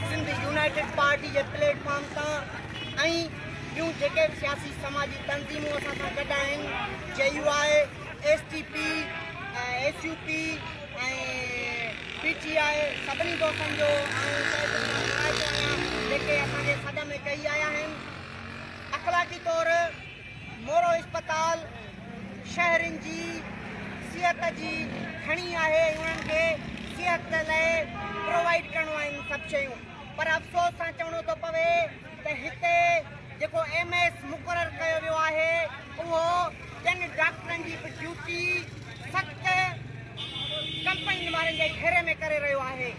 Sindh United Party جي platform سان ۽ ٻيون جيڪي به سياسي سماجي تنظيمون اسان سان گڏ آهن J U I S T P S U P ۽ P T I سڀني دوستن جو جيڪي اسان جي سڏ ۾ ڪئي آيا آهن اخلاقي طور مورو اسپتال شهرين جي صحت جي کڻي آهي ۽ انهن کي صحت لاء پرووائيڊ ڪرڻو آهن سڀ شيون پر افسوس سان چوڻو ٿو پوي ته هتي جيڪو ايم ايس مقرر ڪيو ويو آهي اهو ٻين ڊاڪٽرن جي به ڊيوٽي سخت ڪمپنين وارن جي گهيري ۾ ڪري رهيو آهي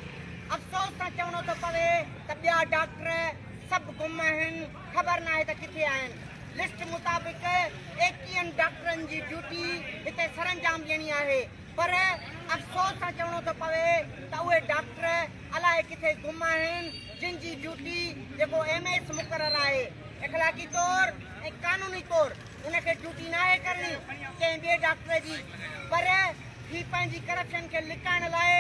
افسوس سان چوڻو ٿو پوي ته ٻيا ڊاڪٽر سڀ گم آهن خبر ناهي ته ڪٿي آهن. لسٽ مطابق ايڪيهن ڊاڪٽرن جي ڊيوٽي هتي سرانجام ڏيڻي آهي پر افسوس سان چوڻو ٿو پوي ته اهي ڊاڪٽر الائي ڪٿي گم آهن جن جي ڊيوٽي جيڪو ايم ايس مقرر آهي اخلاقي طور ۽ قانوني طور ان کي ڊيوٽي ناهي ڪرڻي ڪنهن ٻئي ڊاڪٽر جي پر هي پنهنجي ڪرپشن کي لڪائڻ لاء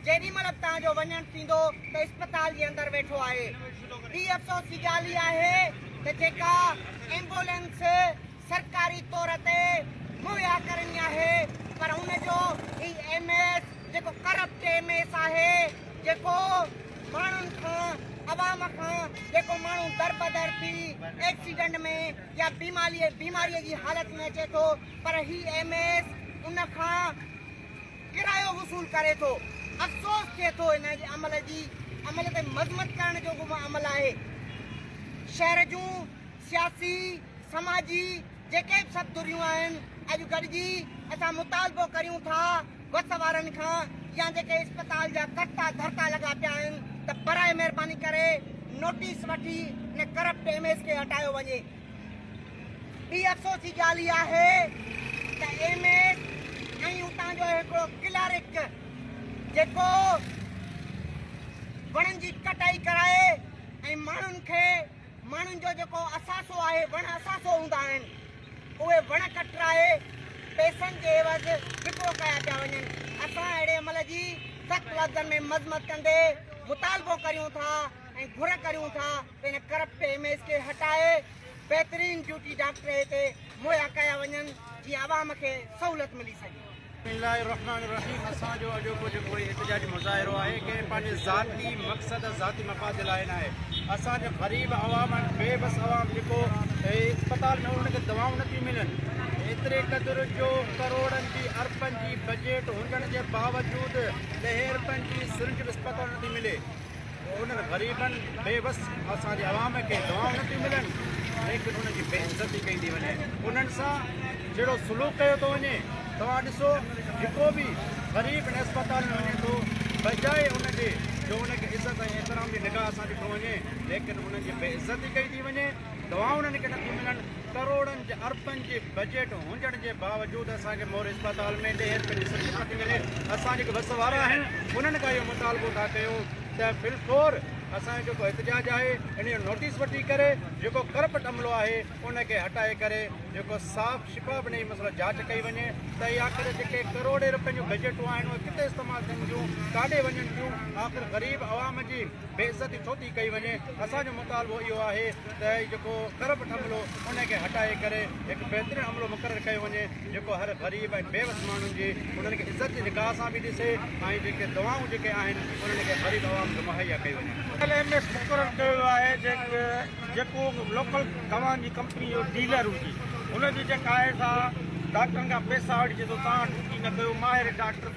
جيڏي مهل به توهان جو وڃڻ ٿيندو ته اسپتال جي اندر ويٺو آهي. ٻي افسوس جي ڳالهه اها آهي ته جيڪا ايمبولينس سرڪاري طور تي مهيا ڪرڻي آهي پر ان جو هي ايم ايس جيڪو ڪرپٽ ايم ايس آهي جيڪو ماڻهن کان عوام کان جيڪو ماڻهو دربدر ٿي ايڪسيڊنٽ ۾ يا بيماري بيماري جي حالت ۾ اچي ٿو پر هي ايم ايس ان کان ڪرايو وصول ڪري ٿو. افسوس ٿئي ٿو ان جي عمل جي عمل تي مذمت ڪرڻ جوڳو به عمل آهي. شهر جون سياسي، سماجي جيڪي به سڀ ڌريون آهن اڄ گڏجي اسان مطالبو ڪريون ٿا وس وارن کان يا جيڪي اسپتال جا ڪرتا ڌرتا لڳا پيا آهن ته براء مهرباني ڪري نوٽيس وٺي ان ڪرپٽ ايم ايس کي هٽايو وڃي. ٻي افسوس جي ڳالهه اها آهي ته ايم ايس ۽ اتان جو هڪڙو ڪلارڪ جيڪو وڻن جي ڪٽائي ڪرائي ۽ ماڻهن کي ماڻهن جو جيڪو اثاثو آهي وڻ اثاثو هوندا آهن اهي وڻ ڪٽرائي پيسن جي عيوض وڪرو ڪيا پيا وڃن اسان اهڙي عمل جي سخت لفظن ۾ مذمت ڪندي مطالبو ڪريون ٿا ۽ گهر ڪريون ٿا پڻ ڪرپٽ ايم ايز کي هٽائي بهترين ڊيوٽي ڊاڪٽر هتي مهيا ڪيا وڃن جيئن عوام کي سهولت ملي سگهي. بسم الله الرحمن الرحيم اسان جو اڄوڪو جيڪو هي احتجاجي مظاهرو آهي ڪنهن به پنهنجي ذاتي مقصد ذاتي مفاد جي لاء ناهي اسان جو غريب عوام ۽ بي بس عوام جيڪو هي اسپتال ۾ انهن کي دوائون نه ٿيون ملن ايتري قدر جو ڪروڙن جي اربن جي بجيٽ هجڻ جي باوجود ڏهين روپين جي سرنج به اسپتال ۾ نه ٿي ملي پوء انهن غريبن، بي وس اسان جي عوام کي دوائون نه ٿيون ملن، ليڪن انهن جي بي عزتي ڪئي ٿي وڃي، انهن سان جهڙو سلوڪ ڪيو ٿو وڃي، توهان ڏسو جيڪو به غريب هن اسپتال ۾ وڃي ٿو، بجاء ان جي جو ان کي عزت ۽ احترام جي نگاهه سان ڏٺو وڃي، ليڪن انهن جي بي عزتي ڪئي ٿي وڃي. دوائون انهن کي نٿيون ملن، ڪروڙن جي اربن جي بجيٽ هونجڻ جي باوجود اسان کي مور اسپتال ۾ ڏهين رپين جي سرجري نٿي ملي، اسان جيڪي وس وارا آهن انهن کان اهو مطالبو ٿا ڪيون ته بالفور اسان جو جيڪو احتجاج آهي ان جو نوٽيس وٺي ڪري جيڪو ڪرپٽ عملو آهي ان کي هٽائي ڪري جيڪو صاف شفاف انهي مسئلو جاچ ڪئي وڃي ته هي آخر جيڪي ڪروڙين رپين جون بجيٽون آهن اهي ڪٿي استعمال ٿين ٿيون ڪاڏي وڃن ٿيون آخر غريب عوام جي بي عزتي ڇو ٿي ڪئي وڃي اسان جو مطالبو اهو آهي ته هي جيڪو ڪرپٽ عملو ان کي هٽائي ڪري هڪ بهترين عملو مقرر ڪيو وڃي جيڪو هر غريب ۽ بيوس ماڻهن جي انهن کي عزت جي نگاهه سان به ڏسي ۽ جيڪي دعائون جيڪي آهن انهن کي غريب عوام کي مهيا ڪيو وڃي. ايل ايم ايس مقرر ڪيو ويو آهي جيڪو لوڪل دوائن جي ڪمپني جو ڊيلر هجي ان جي جيڪا آهي سا ڊاڪٽرن کان پئسا وٺجي ٿو تان ڊيوٽي نه ڪيو ماهر ڊاڪٽر